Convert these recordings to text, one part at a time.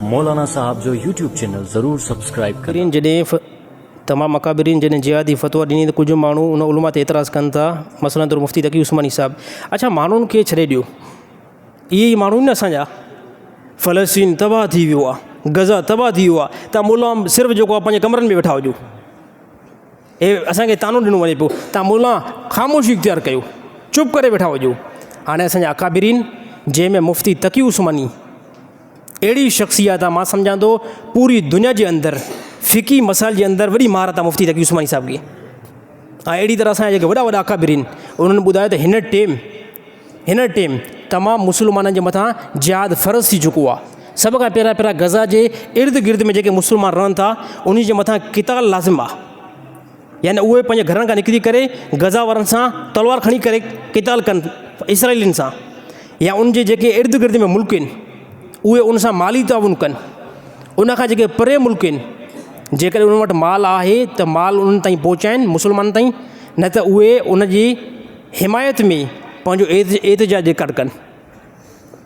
مولانا صاحب جو YouTube channel ضرور سبسڪرائب ڪندا. اڪابرين جڏهن ف تمام اڪابرين جڏهن جهادي فتوا ڏني ته ڪجهه ماڻهو ان علماء تي اعتراض ڪن ٿا مثلا طور مفتي تقي عثماني صاحب اڇا ماڻهن کي ڇڏي ڏيو اهي ئي ماڻهو آهن نه اسان جا فلسطين تباهه ٿي ويو آهي غزه تباهه ٿي ويو آهي تان مولا صرف جيڪو آهي پنهنجي ڪمرن ۾ ويٺا هجو اهي اسان کي طعنو ڏنو وڃي پيو تان مولا خاموشي اختيار ڪيو چپ ڪري ويٺا هجو هاڻي اسان جا اڪابرين جنهن ۾ مفتي تقي عثماني اهڙي شخصيات آ مان سمجهان ٿو پوري دنيا جي اندر فقهي مسائل جي اندر وڏي مهارت آ مفتي تقي عثماني صاحب کي ۽ اهڙي طرح اسان جا وڏا وڏا اڪابرين انهن ٻڌايو ته هن ٽيم هن ٽيم تمام مسلمانن جي مٿان جهاد فرض ٿي چڪو آ سڀ کان پهريان پهريان غزا جي ارد گرد ۾ جيڪي مسلمان رهن ٿا انهي جي مٿان قتال لازم آ يعني اهي پنهنجي گهرن کان نڪري ڪري غزه وارن سان تلوار کڻي ڪري قتال ڪن اسرائيلين سان يا ان جي جيڪي ارد گرد ۾ ملڪ آهن اهي ان سان مالي تعاون ڪن ان کان جيڪي پري ملڪ آهن جيڪڏهن ان وٽ مال آهي ته مال انهن تائين پهچائن مسلمانن تائين نه ته اهي ان جي حمايت ۾ پنهنجو ايت احتجاج ڪن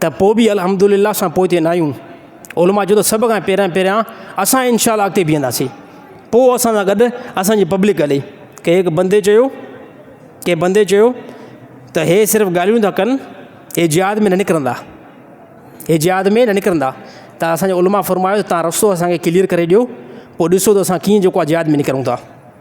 ته پوء به الحمدلله اسان پوئتي ناهيون. علماء چيو ته سڀ کان پهريان پهريان اسان ان شاء الله اڳتي بيهنداسين. پوء اسان سان گڏ اسان جي پبلڪ هلي. ڪنهن هڪ بندي چيو ڪنهن بندي چيو ته هي صرف ڳالهيون ٿا ڪن هي جهاد ۾ نه نڪرندا هي جهاد ۾ نه نڪرندا ته اسان جي علماء فرمايو ته تهان رستو اسان کي ڪليئر ڪري ڏيو پوء ڏسو ته اسان ڪيئن جيڪو آهي جهاد ۾ نڪرون ٿا.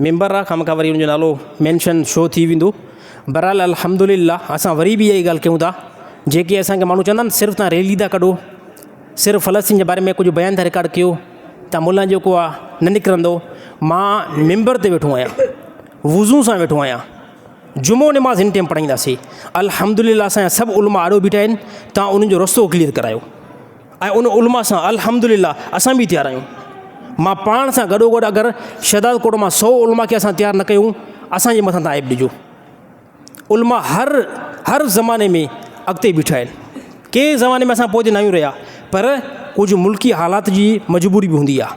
ميمبر راه کان مکان وري ان جو نالو مينشن شو ٿي ويندو برحال الحمدلله اسان وري به اها ئي ڳالهه ڪيون ٿا جيڪي اسان کي ماڻهو چوندا آهن صرف تان ريلي ٿا ڪڍو صرف فلسطين جي باري ۾ ڪجهه بيان ٿا رڪارڊ ڪيو تان ملان جيڪو آهي نه نڪرندو مان ميمبر تي ويٺو آهيان وضو سان ويٺو آهيان جمعو نماز هن ٽيم پڙهائينداسي الحمدلله اسان جا سڀ علماء آڏو بيٺا آهن تان انهن جو رستو ڪليئر ڪرايو ۽ ان علماء سان الحمد لله اسان به تيار آهيون. مان پاڻ سان گڏو گڏ اگر شهدادڪوٽ مان سؤ علماء کي اسان تيار نه ڪيون اسان جي مٿان تان عيب ڏجو. علماء هر هر زماني ۾ اڳتي بيٺا آهن. ڪي زماني ۾ اسان پوئتي ناهيون رهيا پر ڪجهه ملڪي حالات جي مجبوري به هوندي آهي.